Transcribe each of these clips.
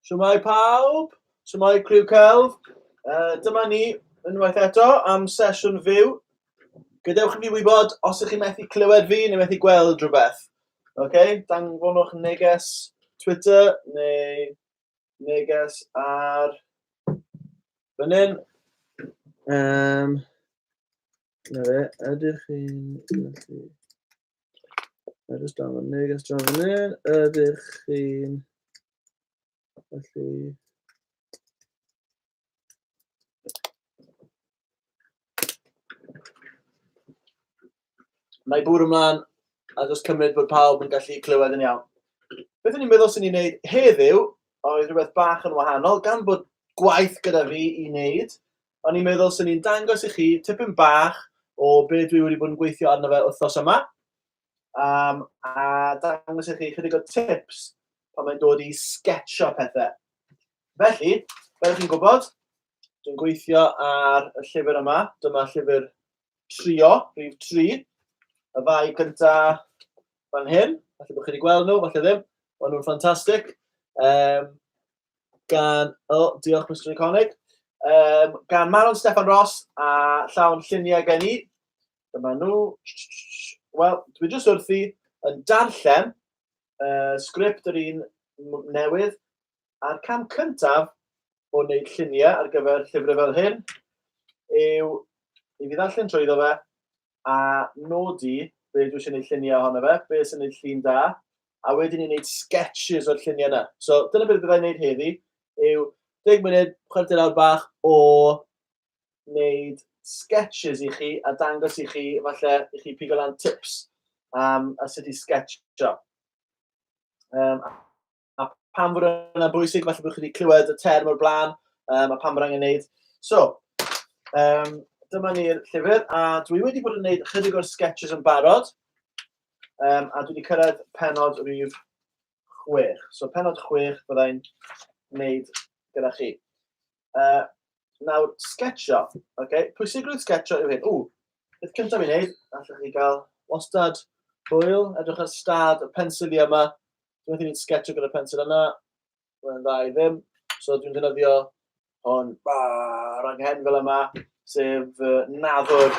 Siwmai pawb, siwmai criw celf. Uh, dyma ni unwaith eto am sesiwn fyw. Gadewch i fi wybod os ych chi methu clywed fi neu methu gweld rhywbeth. Oce, okay? danfonwch neges Twitter neu neges ar fan hyn. Um, na fe, ydych chi'n gallu... Mae'n just draw fan hyn, draw fan hyn. Ydych chi'n... Felly... Mae bwrw ymlaen a jyst cymryd bod pawb yn gallu clywed yn iawn. Beth o'n i'n meddwl sy'n ei wneud heddiw oedd rhywbeth bach yn wahanol, gan bod gwaith gyda fi i wneud, o'n i'n meddwl 'swn i'n dangos i chi tipyn bach o be dwi wedi bod yn gweithio arno fe wythnos yma, um, a dangos i chi chydig o tips pan mae'n dod i sketcho pethau. Felly, fel chi'n gwybod, dwi'n gweithio ar y llyfr yma, dyma llyfr trio, rhif 3, y ddau gynta fan hyn, falle bod chi wedi gweld nhw, falle ddim, ond nhw'n ffantastig. Um, gan... O, diolch Mister Iconic. Um, gan Manon Steffan Ross a llawn lluniau gen i. Dyma nhw. Wel, dwi jyst wrthi yn darllen uh, sgript yr un newydd a'r cam cyntaf o wneud lluniau ar gyfer llyfrau fel hyn yw i fi ddarllen trwy iddo fe a nodi be dwi eisiau gwneud lluniau ohono fe, be sy'n gwneud llun da, a wedyn ni'n gwneud sketches o'r lluniau yna. So dyna beth byddai'n gwneud heddi, yw 10 munud, chwarter awr bach o wneud sketches i chi a dangos i chi, falle i chi pigo lan tips am a sut i sketcho. Um, a pam fod yna'n bwysig, falle bod chi wedi clywed y term o'r blaen, um, a pam bod angen gwneud. So, um, dyma ni'r llyfr, a dwi wedi bod yn gwneud chydig o'r sketches yn barod, um, a dwi wedi cyrraedd penod rhif chwech. So penod chwech byddai'n wneud gyda chi. Uh, nawr, sketcho. Okay? Pwysigrwydd sketcho yw hyn. Ww, beth cyntaf i'n neud, allwch chi gael wastad hwyl, edrych ar stad y pensil i yma. Dwi'n meddwl i'n sketcho gyda'r pensil yna. Mae'n dda i ddim. So dwi'n defnyddio hon ar anghen fel yma, sef uh, nadwr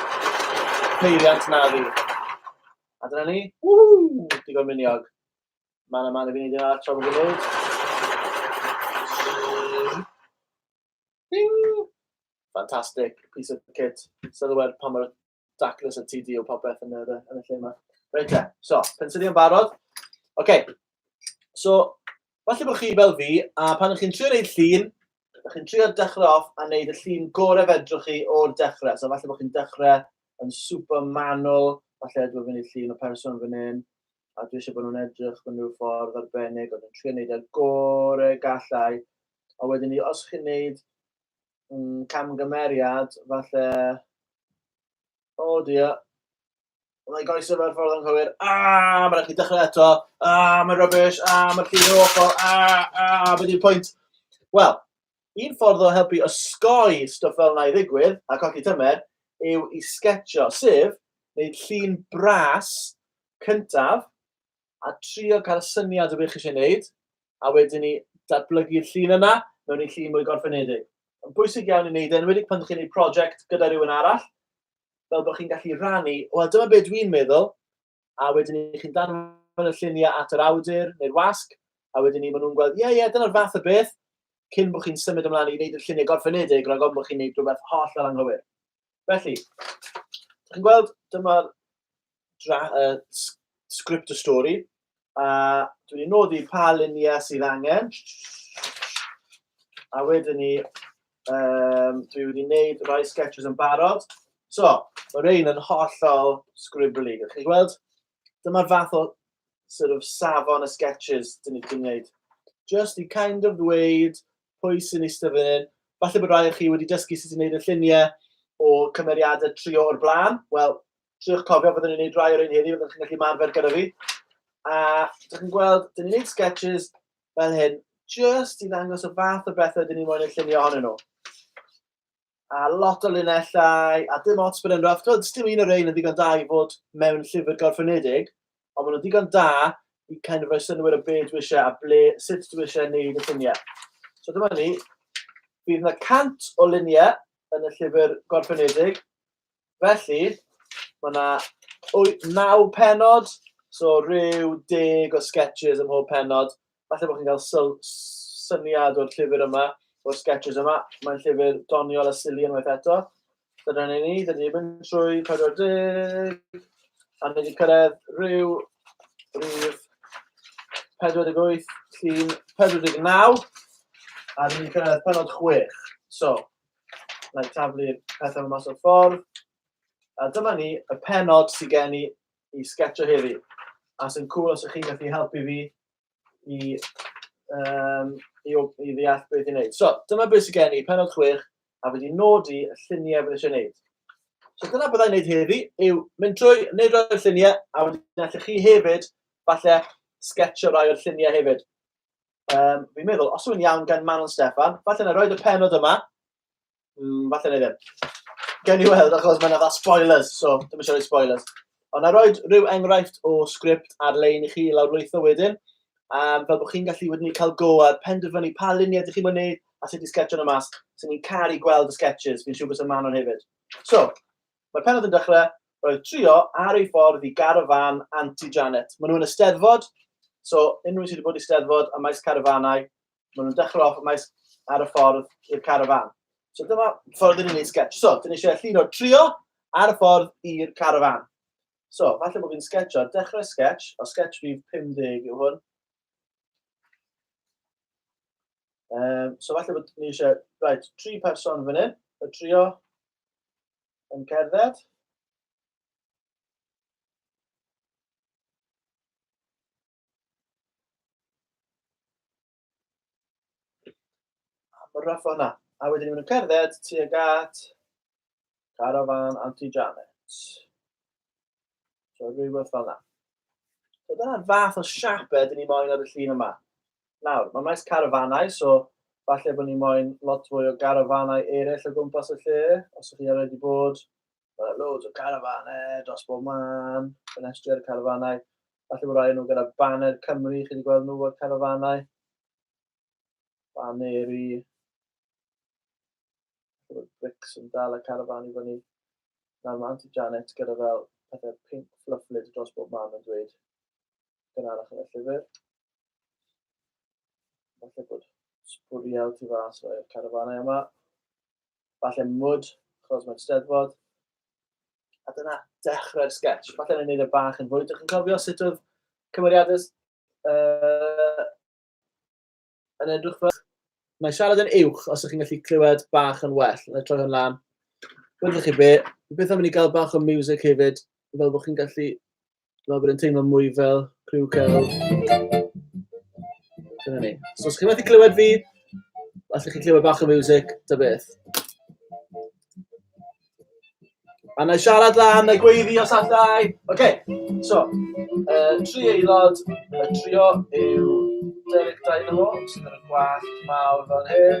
peiriant naddu. A dyna ni. Ww, digon miniog. Mae yna man i fi wneud yna, tra bod fi'n wneud. Ding! Fantastic, piece of kit. Sylwer pa mor daclus y TD o popeth yn, yr, yn y lle yma. Reit te, so, pensili yn barod. Oce, okay. so, falle bod chi fel fi, a pan ych chi'n trio gwneud llun, Ydych chi'n trio dechrau off a wneud y llun gorau fedrwch chi o'r dechrau. So falle bod chi'n dechrau yn super manwl, falle dwi'n mynd i llun o person fan hyn, a dwi eisiau bod nhw'n edrych mewn rhyw ffordd arbennig, ond yn trio wneud y gorau gallau. A wedyn ni, os chi'n wneud mm, camgymeriad, falle... O oh dia, Mae'n rhaid goesio fel ffordd anghywir. Ah, mae'n rhaid chi dechrau eto. Ah, mae'n rubbish. Ah, mae'n llif yn awful. Ah, ah, beth yw'r pwynt? Wel, un ffordd o helpu osgoi stwff fel yna i ddigwydd a colli tymer yw i sgetio, sef wneud llun bras cyntaf a trio cael syniad o beth chi eisiau gwneud, a wedyn ni datblygu'r llun yna mewn i llun mwy gorffenedig. Mae'n bwysig iawn i wneud e, enwedig pan chi'n gwneud prosiect gyda rhywun arall, fel bod chi'n gallu rannu, wel dyma beth dwi'n meddwl, a wedyn i chi'n danfon y lluniau at yr awdur neu'r wasg, a wedyn ni maen nhw'n gweld, ie, yeah, ie, yeah, dyna'r fath o beth, cyn bod chi'n symud ymlaen i wneud y lluniau gorffenedig rhag ofn bod chi'n gwneud rhywbeth holl ar anghywir. Felly, chi'n gweld, dyma'r dra, uh, script y stori, a dwi wedi nodi pa luniau sydd angen, a wedyn ni, um, dwi wedi wneud rhai sketches yn barod. So, mae rhain yn hollol scribbly, ydych chi'n gweld? Dyma'r fath o sort of safon y sketches dyn ni wedi gwneud. Just i kind of ddweud pwy sy'n eistedd fan hyn. Falle bod rhai o chi wedi dysgu sut i wneud y lluniau o cymeriadau trio o'r blaen. Wel, triwch cofio byddwn ni'n gwneud rai o'r un heddiw, byddwch chi'n gallu marfer gyda fi. A dych chi'n gweld, dyn ni'n gwneud sketches fel hyn, just i ddangos y fath o bethau dyn ni'n mwyn eu llunio ohonyn nhw. A lot o linellau, a dim ots bod yn rough. Dwi'n dim un o'r ein yn ddigon da i fod mewn llyfr gorffenedig, ond maen nhw'n ddigon da i kind of roi synwyr o beth dwi eisiau a ble, sut dwi eisiau gwneud y lluniau. So dyma ni, bydd yna cant o luniau yn y llyfr gorffenedig, Felly, mae yna 9 penod, so rhyw deg o sketches ym mhob penod. Falle bod chi'n cael syl- syniad o'r llyfr yma, o'r sketches yma. Mae'n llyfr doniol a silly unwaith eto. Dyna ni ni, dyna ni'n mynd trwy 40, a ni wedi cyrraedd rhyw rhif 48, llun 49, a ni'n cyrraedd penod 6. So, Na i taflu'r pethau yma mas o'r ffordd. A dyma ni, y penod sydd gen i i sgetio heddi. A sy'n cool os ydych chi'n gallu helpu fi i, um, i, i ddeall beth i'n neud. So, dyma beth sydd gen i, penod chwech, a wedi nodi y lluniau bydd eisiau neud. So dyna byddai'n neud heddi, yw mynd trwy, neud rhoi lluniau, a wedyn allwch chi hefyd, falle, sgetio rhai o'r lluniau hefyd. Um, fi'n meddwl, os yw'n iawn gan Manon Steffan, falle na roed y penod yma. Mm, falle na ddim. Gen i weld, achos mae'n yna spoilers, so dim eisiau rhoi spoilers. Ond na roed rhyw enghraifft o sgript ar-lein i chi lawrlwytho wedyn, um, fel bod chi'n gallu wedyn i cael go ar penderfynu pa luniau ydych chi'n mynd wneud a sut i sgetio'n y mas. Sy'n ni'n caru gweld y sketches, fi'n siŵr bod sy'n Manon hefyd. So, Mae'r pennod yn dechrau, roedd Trio ar ei ffordd i garafan Anti Janet. Maen nhw yn y Steddfod, so unrhyw un sydd wedi bod i Steddfod a maes carafanau, maen nhw'n dechrau off maes ar y ffordd i'r carafan. So dyma ffordd yn unig sketch. So, dyn ni eisiau llun o Trio ar y ffordd i'r carafan. So, falle bod fi'n sketcho, dechrau sketch, o sketch fi 50 yw hwn. Um, so falle bod ni eisiau, right, tri person fan hyn, y trio, yn cerdded. Am y rough o'na. A wedyn ni'n cerdded tuag at Caravan Auntie Janet. So, rhywbeth fel yna. So, dyna'r fath o siapau dyn ni moyn ar y llun yma. Nawr, mae maes carafanau, so falle bod ni moyn lot fwy o garafanau eraill o gwmpas y lle, os ydych chi ar wedi bod. Mae loads o carafanau dros bob man, ffenestri ar y carafanau. Falle bod rhai nhw gyda baner Cymru, chi wedi gweld nhw o'r carafanau. Baneri. Roedd Bricks yn dal y carafan i fyny. Nawr mae Aunty Janet gyda fel pethau pink flufflyd dros bob man yn dweud gynharach yn y llyfr. Falle bod sbwriel tu fas o'r carafanau yma. Falle mwd, chos mae'n steddfod. A dyna dechrau'r sketch. Falle ni'n gwneud y e bach yn fwy. Dych chi'n cofio sut oedd cymeriadau uh, Yn edrych fel... Mae siarad yn uwch os ydych chi'n gallu clywed bach yn well. Yn troi hwn lan. Byddwch chi be? Beth am i ni gael bach o music hefyd, fel bod chi'n gallu... Fel bod yn teimlo mwy fel criw cael... Dyna ni. So os chi'n methu clywed fi, allwch chi clywed bach o music, ta beth. A na i siarad lan y gweiddi os allai. Oce, okay. so, uh, tri aelod, y trio yw Derek Dynamo, sydd yn y gwallt mawr fel hyn.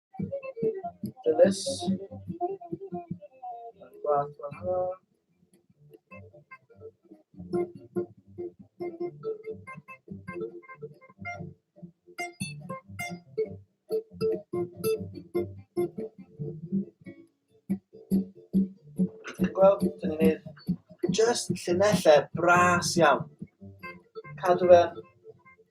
Dennis. Gwaith gwahanol. Gweld, dyn ni'n just llinellau bras iawn. Cadw fe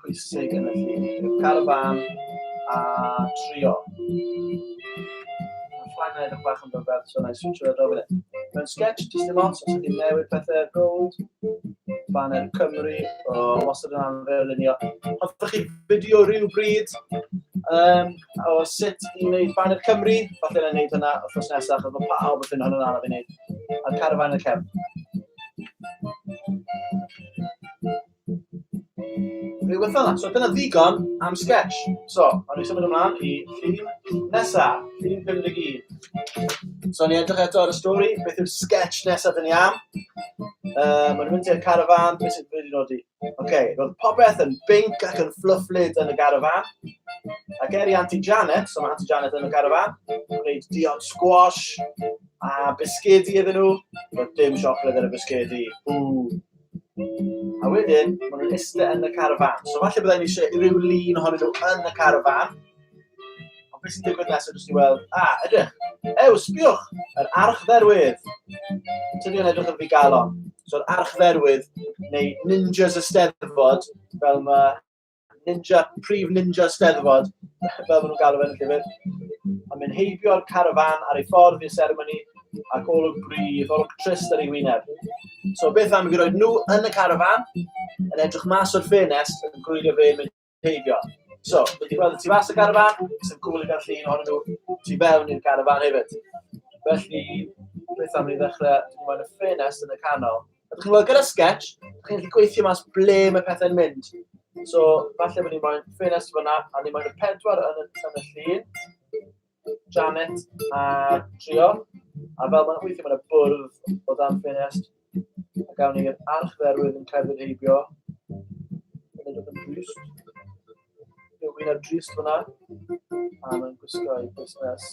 pwysig yn y ffin, i'r carfan a trio. Mae'n ffain na edrych bach yn byfedd, so na i switch o'r adrodd yn Mae'n sketch, jyst dim ots, os ydy'n newid pethau ar gold, banner Cymru, o wastad yn anfer yn unio. Hoffech chi fideo rhyw bryd um, o sut i wneud banner Cymru, falle na wneud hynna o ffos nesaf, achos bod pawb yn ffynnon yn araf i wneud, a'r carfan y cefn. Rhywbeth fel yna. So dyna ddigon am sketch. So, awn ni symud ymlaen i llun nesa, llun 51. So, ni edrych eto ar y stori, beth yw'r sketch nesa dyn ni am. Uh, Mae'n mynd i'r carafan, beth sy'n wedi nodi? Oce, okay, roedd popeth yn binc ac yn fflyfflyd yn y garafan. Ac er i Auntie Janet, so mae Auntie Janet yn y garafan, gwneud diod squash a bisgedi iddyn nhw. Roedd dim siocled ar y bisgedi. Ww. A wedyn, maen nhw'n iste yn y carafán. So falle byddai'n eisiau rhyw lun ohonyn nhw yn y carafán. Ond beth sy'n digwydd nesaf jyst i weld, a, ah, edrych, ew, sbiwch, yr archdderwydd. Tydi yn edrych yn fi galon. So'r archdderwydd, neu ninjas y steddfod, fel mae ninja, prif ninja steddfod, fel maen nhw'n galw fe'n llyfr. A mynd heibio'r carafan ar ei ffordd i'r seremoni ac olwg brif, olwg trist ar ei wyneb. So beth am i fi roed nhw yn y carafan, yn edrych mas o'r ffenes, yn gwylio fe mynd heibio. So, wedi gweld y tu fas y carafan, sy'n cwbl i gael llun o'n nhw tu fewn i'r carafan hefyd. Felly, beth am i ddechrau, dwi'n meddwl, y ffenes yn y canol, A chi'n gweld, gyda sketch, chi'n gallu gweithio mas ble mae pethau'n mynd. So, falle bod ni'n moyn ffenest fyna, a ni'n moyn y pedwar yn y, yn y llun. Janet a Trio. A fel mae'n weithio, mae'n bwrdd o dan ffenest. A gawn ni'r arch dderwydd yn cael ei heibio. Yn edrych yn drist. Rwy'n ar drist fyna. A mae'n gwisgo ei busnes.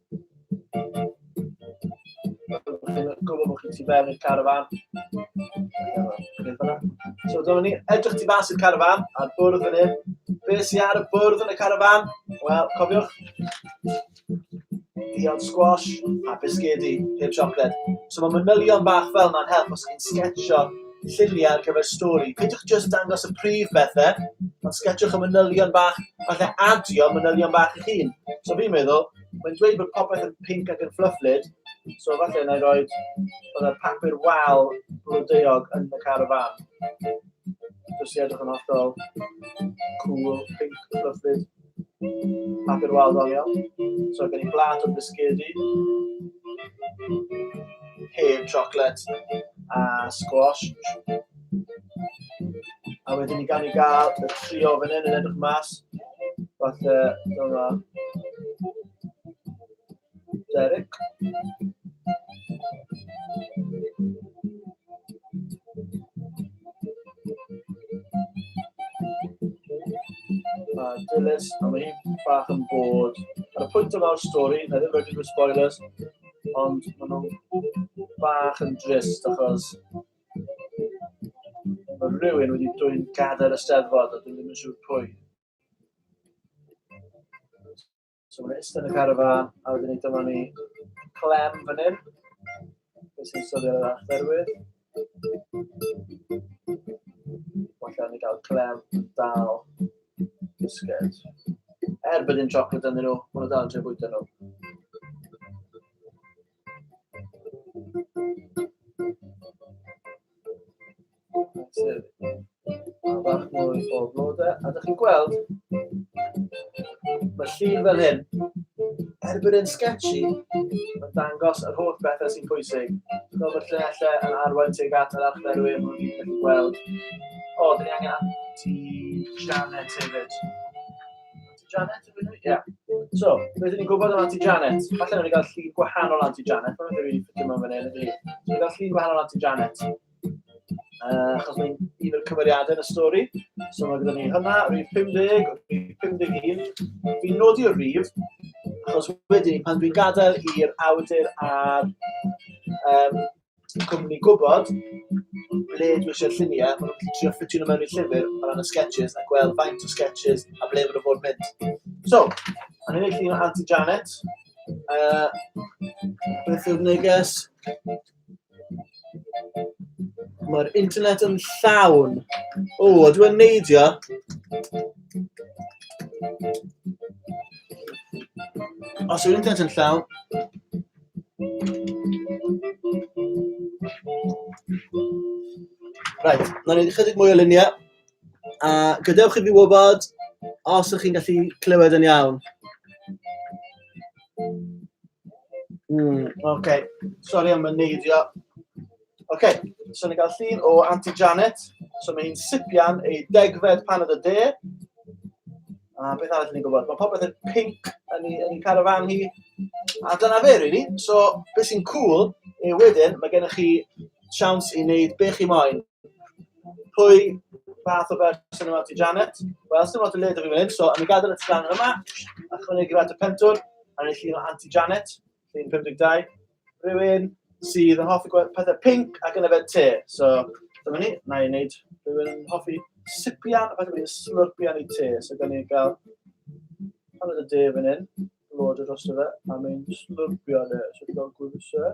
Dwi'n gwybod bod chi'n tu fewn i'r carafan. So, dyma ni, edrych tu fas i'r carafan, a'r bwrdd yn hyn. Be sy'n ar y bwrdd yn y carafan? Wel, cofiwch, dion squash a bisgedi, heb siocled. So mae manylion bach fel yna'n help os chi'n sgetsio lluniau ar gyfer stori. Peidiwch jyst dangos y prif bethe, ond sgetswch y manylion bach, falle adio manylion bach eich hun. So fi'n meddwl, mae'n dweud bod popeth yn pink ac yn fflyfflyd, so falle yna i roi oedd y papur wal blodeuog yn y car y fan. Jyst i edrych yn hollol cool, pink, fflyfflyd. Papur wal ddoniol. So gen i blat o bisgedi. Heb chocolate a squash. A wedyn ni gan i gael y trio fan hyn yn edrych mas. Falle, dyma. Derek. Mae Dilys, a mae hi'n bach yn bod. Ar y pwynt yma o'r stori, na ddim rhaid i nhw spoilers, ond maen nhw'n bach yn drist achos mae rhywun wedi dwy'n gadael y steddfod a dwi'n ddim yn siŵr pwy. So mae'n ystod y carafan, a wedyn ni dyma ni clem fan hyn. Beth sy'n sylio ar achterwydd. Falle ni gael clem dal bisged. Er bod yn chocolate ynddyn nhw, maen nhw dal yn trio bwyta nhw. Sef, bach mwy o flodau, a ydych chi'n gweld, mae llun fel hyn, er bod e'n sketchy, mae'n dangos yr holl bethau sy'n pwysig. Dwi'n meddwl bod llunellau yn arwain tuag at yr archferwyr mwyn i'n gallu gweld. O, dyn ni angen anti-Janet hefyd. Janet, ydw i'n Ie. So, rydyn ni'n gwybod am Auntie Janet. Falle rydyn ni'n cael llun gwahanol Auntie Janet. Mae'n rydyn ni'n ffitio mewn fan hyn, ydw i. Rydyn ni'n cael llun gwahanol Auntie Janet. Uh, achos mae'n un o'r cymeriadau yn y stori. So mae gyda ni hynna, rhif 50, rhif 51. Fi'n nodi o rhif, achos wedyn pan dwi'n gadael i'r awdur a'r um, Dwi'n gwmni gwybod ble dwi eisiau lluniau, maen nhw'n trio ffitio nhw mewn i'r llyfr o ran y sketches a gweld faint o sketches a ble maen nhw fod mynd. So, a ni'n ei llun o Auntie Janet, uh, beth yw'r neges? Mae'r internet yn llawn. O, oh, dwi'n neidio. Os yw'r internet yn llawn, Right, na ni chydig mwy o luniau. A gadewch i fi wybod os ydych chi'n gallu clywed yn iawn. Mm, okay. Sorry am y neidio. OK, so ni'n cael llun o Auntie Janet. So mae hi'n sipian ei degfed pan oedd y de. A beth arall ni'n gwybod? Mae popeth yn pink yn ei, yn ei carafan hi. A dyna fe, really. So, beth sy'n cool yw wedyn, mae gennych chi siawns i wneud be chi moyn. Pwy fath o berson yma ti Janet? Wel, sy'n lot o led o fi fan hyn, so am i gadael y tran yma, a chwynegu fat y pentwr, a ni'n llun o Auntie Janet. Llun 52. Rhywun sydd yn hoffi gweld pethau pinc ac yn yfed te. So dyma ni, na i wneud rhywun yn hoffi sipian, a falle bod ni'n slurpian i te. So gan ni gael paned y de fan hyn, lod y dros fe, a mae'n slurpio le. So dwi'n gael gwybod e.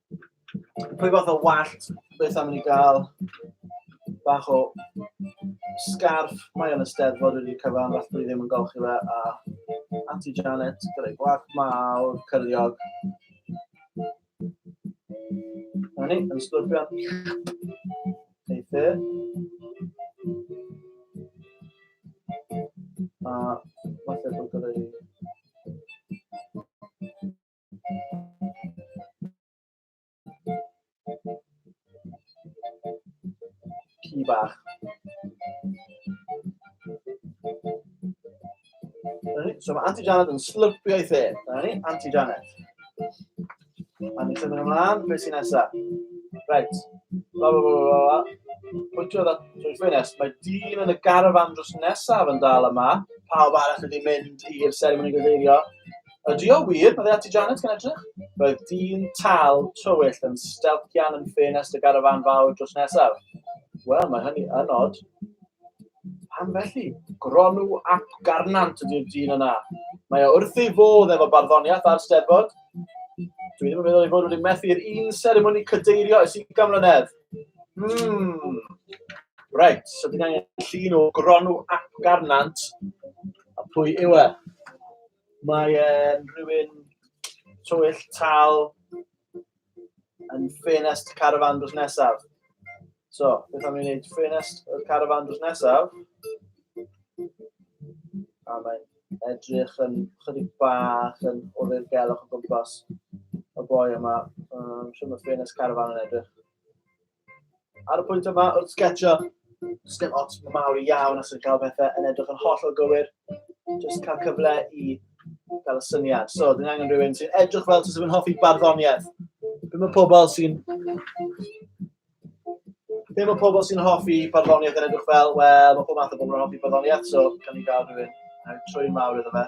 pwy fath o wallt beth am ni gael bach o scarf. Mae o'n ysteddfod wedi cyfan, fath dwi ddim yn golchi fe. A Auntie Janet, gyda'i gwallt mawr, cyrliog. Na ni, yn sglwrpio. Eithr. A falle bod gyda'i Ci bach. So mae Auntie Janet yn slurpio i the. Dyna ni, Auntie Janet. A ni'n symud ymlaen, beth sy'n nesaf? Reit. La, la, la, la, la. Pwyntio dda, trwy ffenest. Mae dyn yn y garafan drws nesaf yn dal yma. Pawb arall wedi mynd i'r seremoni gyfeirio. Ydy o wir? Mae ati Janet gan edrych. Roedd dyn tal tywyll yn stelcian yn ffenest y garafan fawr drws nesaf. Wel, mae hynny yn od. Pam felly? Gronw ap garnant ydy'r dyn yna. Mae o wrth ei fodd efo barddoniaeth a'r steddfod. Dwi ddim yn meddwl ei fod wedi methu i'r un seremoni cadeirio ys i gamlynedd. Hmm. Reit, so dyna llun o gronw ap garnant. A pwy yw e? Mae e'n rhywun twyll tal yn ffenest carafan drws nesaf. So, beth am i wneud ffenest y carafan drws nesaf? A mae'n edrych yn chydig bach yn o'r gelwch o gwmpas y boi yma. Um, Siwr mae ffenest carafan yn edrych. Ar y pwynt yma, wrth sgetio, does dim ots mawr iawn os yw'n cael pethau yn edrych yn holl o gywir, jyst cael cyfle i gael y syniad. So, dyn angen rhywun sy'n edrych fel sy'n hoffi barddoniaeth. Be mae pobl sy'n... Be mae pobl sy'n hoffi barddoniaeth yn edrych fel? Wel, mae pob math o bobl yn hoffi barddoniaeth, so gan ni gael rhywun trwy'n mawr iddo fe.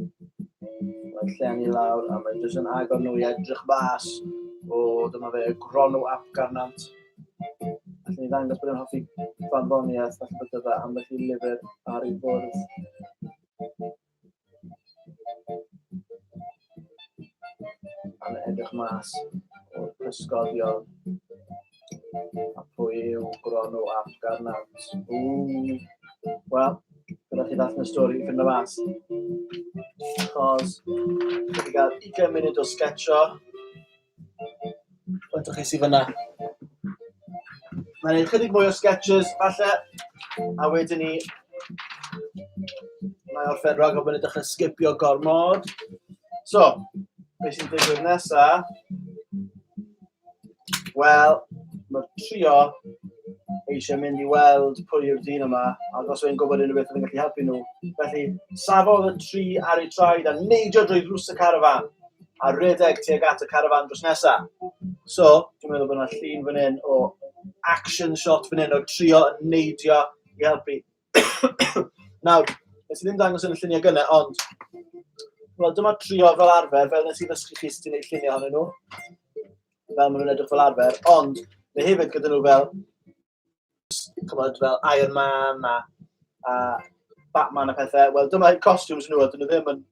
Mae'n llen i lawr a mae'n jyst yn agor nhw i edrych bas. O, dyma fe, gronw ap garnant. Felly ni ddangos bod yn hoffi farddoniaeth, felly bod yna ambell i lyfr ar ei fwrdd. A'n edrych mas o'r pysgodion. A pwy yw Gwronu ap Garnant? Ww. Wel, gyda chi ddath y stori i ffynd o mas. Chos, wedi cael 20 munud o sgetio. Faint o chi sydd fyna? Mae'n ei chydig mwy o sketches, falle. A wedyn ni... Mae orffen rhag o fyny dechrau sgipio gormod. So, beth sy'n digwydd nesaf? Wel, mae trio eisiau mynd i weld pwy yw'r dyn yma, ac os yw'n gwybod unrhyw beth oedd yn gallu helpu nhw. Felly, safodd y tri ar eu traed a neidio drwy ddrws y carafan, a rhedeg tuag at y carafan drws nesaf. So, dwi'n meddwl bod yna llun fan hyn o action shot fan hyn o trio neidio i helpu. Nawr, nes i ddim dangos yn y lluniau gynnau, ond... Wel, dyma trio fel arfer, fel nes i ddysgu chi sut i wneud lluniau ohonyn nhw. Fel maen nhw'n edrych fel arfer, ond mae hefyd gyda nhw fel... Cymod, fel Iron Man a, a Batman a pethau. Wel, dyma costumes nhw, a dyn nhw ddim yn...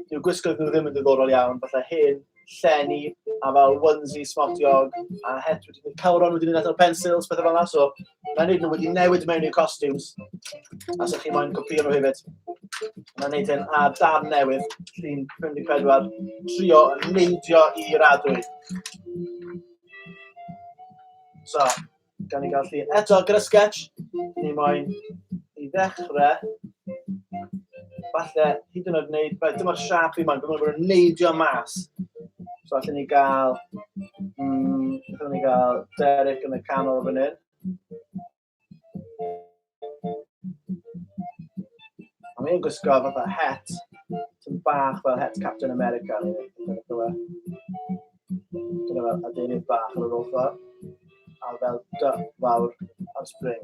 Dyw gwisgo nhw ddim yn ddiddorol iawn, fatha hen llenni a fel onesie smotiog a het wedi mynd... cawron wedi mynd allan o pensils, pethe fel 'na, so... Mae'n neud nhw wedi newid mewn i'r costumes. Os ydych chi moyn copio nhw hefyd. Mae'n neud hyn a dan newydd. Llun 54. Trio neidio i radwy. So, gan i gael llun. Eto, gyda sketch, ni moyn i ddechrau Falle, hyd yn oed wneud... Right, dyma'r siap fi ma'n gwybod bod yn neidio mas. So allan ni gael... Mm, allan ni gael Derek yn y canol fan hyn. A mi'n gwisgo fatha het, sy'n bach fel het Captain America. Dyna fel adeinydd bach ar yr ochr, a fel duck fawr ar spring.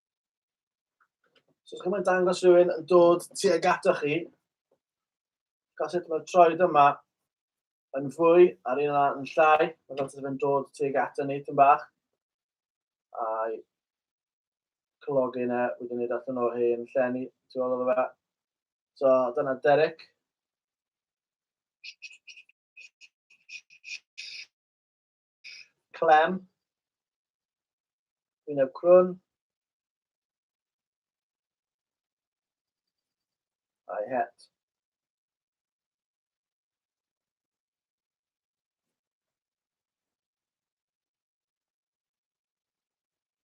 So os chi'n dangos rhywun yn dod tuag atoch chi, gael sut mae'r troed yma yn fwy a'r un yna yn llai, mae fel sydd yn dod tuag ato ni tyn bach. A'i cylogi yna, wedi gwneud allan o hen llenni, tu ôl o fe. So dyna Derek. Clem, Gwyneb Crwn, I het.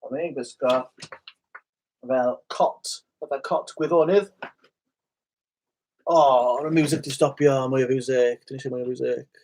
Ond mae'n gwisgo fel cot, fatha cot gwyddonydd. O, oh, y music di stopio, mwy o music, dyn eisiau mwy o music.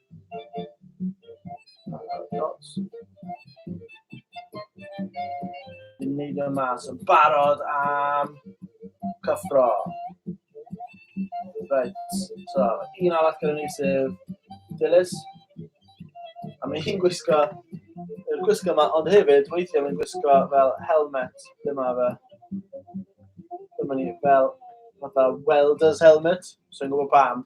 Yn neud o mas yn barod am cyffro. Right, so un arall gyda ni sef Dilys. A mae hi'n gwisgo, yn gwisgo yma, ond hefyd weithiau mae'n gwisgo fel helmet. Dyma fe. Dyma ni fel fatha welder's helmet. So i'n gwybod pam.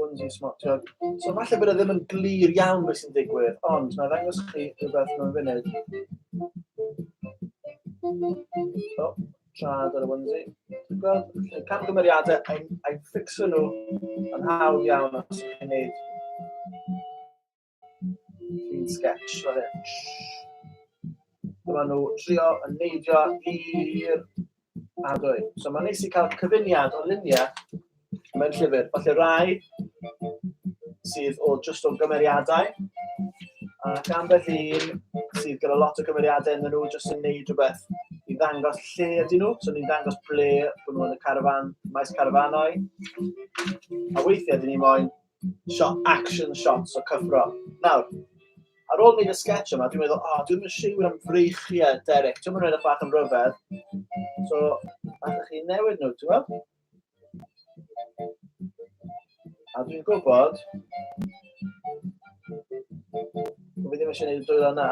Onesie smotio. So falle bod e ddim yn glir iawn beth sy'n digwydd, ond mae'n ddangos chi rhywbeth mewn funud. O, trad ar y onesie. Ti'n gweld, y camgymeriadau, a'i ffixo nhw yn hawdd iawn os chi'n gwneud Clean sketch fan hyn. Dyma nhw trio yn neidio i'r adwy. So mae'n neis i cael cyfuniad o luniau mewn llyfr. Falle rai sydd o just o gymeriadau, a gan beth un sydd gyda lot o gymeriadau yn nhw jyst yn neud rhywbeth i ddangos lle ydyn nhw. So ni'n dangos ble bod nhw yn y carfan, maes carfanau. A weithiau dyn ni moyn shot, action shots o cyfro. Nawr, ar ôl wneud y sketch yma, dwi'n meddwl, o, oh, dwi'n siŵr am freichiau Derek. Ti'n mynd edrych bach yn rhyfedd. So, allwch chi newid nhw, ti'n meddwl? A dwi'n gwybod... Fi ddim eisiau gwneud y dwylo yna.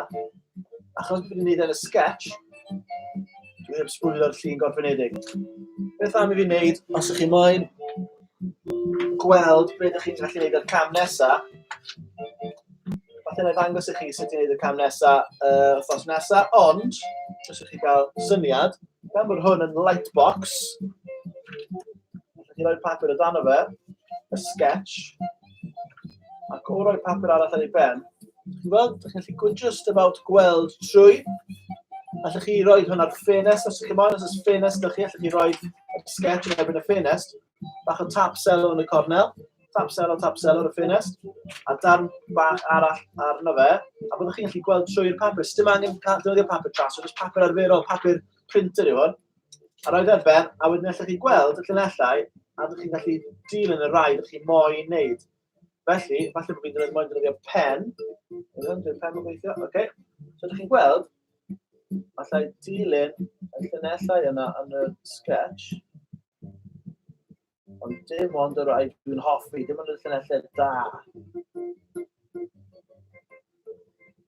Achos dwi'n gwneud yn y sketch, dwi'n sbwylio'r llun gorffenedig. Beth am i fi wneud, os ych chi moyn, gweld be dych chi'n gallu gwneud o'r cam nesaf. Falle na i ddangos i chi sut i wneud y cam nesaf uh, wrthnos nesaf, ond, os ydych chi gael syniad, gan bod hwn yn light box, ydych chi'n rhoi papur o dan o fe, y sketch, ac o roi papur arall ar ei ben, Ti'n gweld, ydych chi'n gallu gwneud just about gweld trwy. Allwch chi roi hwn ar ffenest, os ydych chi'n moyn, os ydych ffenest ydych chi, allwch chi roi y sketch yn erbyn y ffenest. Bach o tap selo yn y cornel, tap selo, tap selo ar y ffenest, a darn bach arall arno fe, a byddwch chi'n gallu gweld trwy'r papur. Dim angen defnyddio papur tras, ond papur arferol, papur printer yw hwn. A roedd ar ben, a wedyn allwch chi gweld y llunellau, a ydych chi'n gallu dilyn y rai ydych chi'n moyn wneud. Felly, falle bod fi'n dweud moyn dweud i'r pen. Ydyn, dwi'n pen yn gweithio. Oce. Okay. So, ydych chi'n gweld, allai dilyn y llunellau yna yn y sketch. Ond dim ond yr rhaid dwi'n hoffi, dim ond y llunellau da.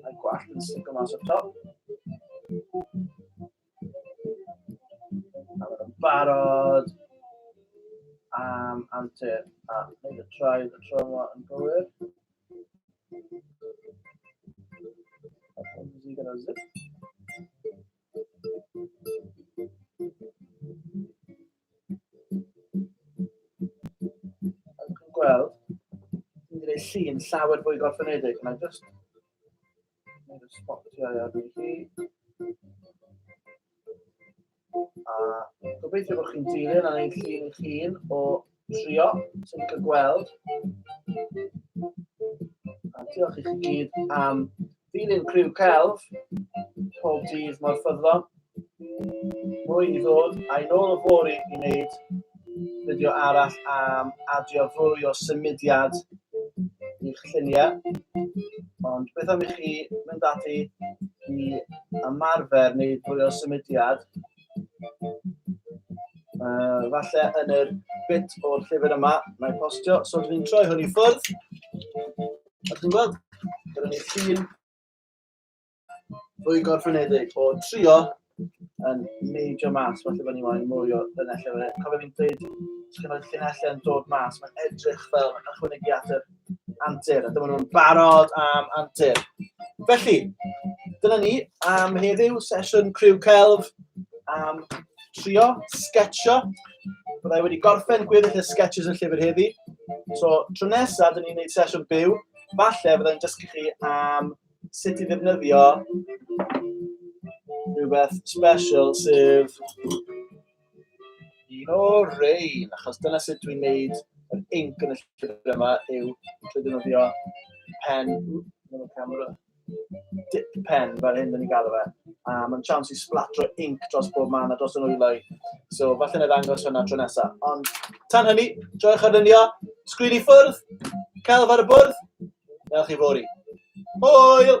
A'r gwallt yn stico mas o'r top. A mae'n barod am antur a wneud y traed y tro yma yn gywir. A hwn i gyda zip. Ac yn gweld, dwi'n gwneud llun llawer fwy gorffenedig, mae'n just wneud y sbotio ar i chi. A gobeithio bod chi'n dilyn a wneud llun eich hun o trio sy'n ni'n cael gweld. A diolch i chi gyd am Dilyn criw celf pob dydd mor ffyddlon. Mwy i ddod, a'i nôl o fori i wneud fideo arall am adio fwy o symudiad i'ch lluniau. Ond beth am i chi mynd ati i ymarfer neu fwy o symudiad uh, falle yn yr bit o'r llyfr yma mae'n postio. So dwi'n troi hwn i ffwrdd. A chi'n gweld, gyda ni llun fwy gorffenedig o trio yn neidio mas, falle bod ni'n wain mwy o llinellau. Fe. Cofio fi'n dweud, os chi'n rhoi llinellau yn dod mas, mae'n edrych fel yn ychwanegu at yr antur, a dyma nhw'n barod am antur. Felly, dyna ni am heddiw, sesiwn criw celf am trio sketcho. Byddai wedi gorffen gweddill y sketches yn llyfr heddi. So, tro nesaf, dyn ni'n gwneud sesiwn byw. Falle byddai'n dysgu chi am sut i ddefnyddio rhywbeth special sef un o rein, achos dyna sut dwi'n neud yr inc yn y llyfr yma yw trwy ddefnyddio pen, oops, camera, dip pen fel hyn dyn ni'n galw fe. A mae'n chance i splatro ink dros bob man a dros y nwyloedd. So falle na ddangos hwnna tro nesaf. Ond tan hynny, joiwch arlunio, sgrin i ffwrdd, celf ar y bwrdd, neu chi fori. Hwyl!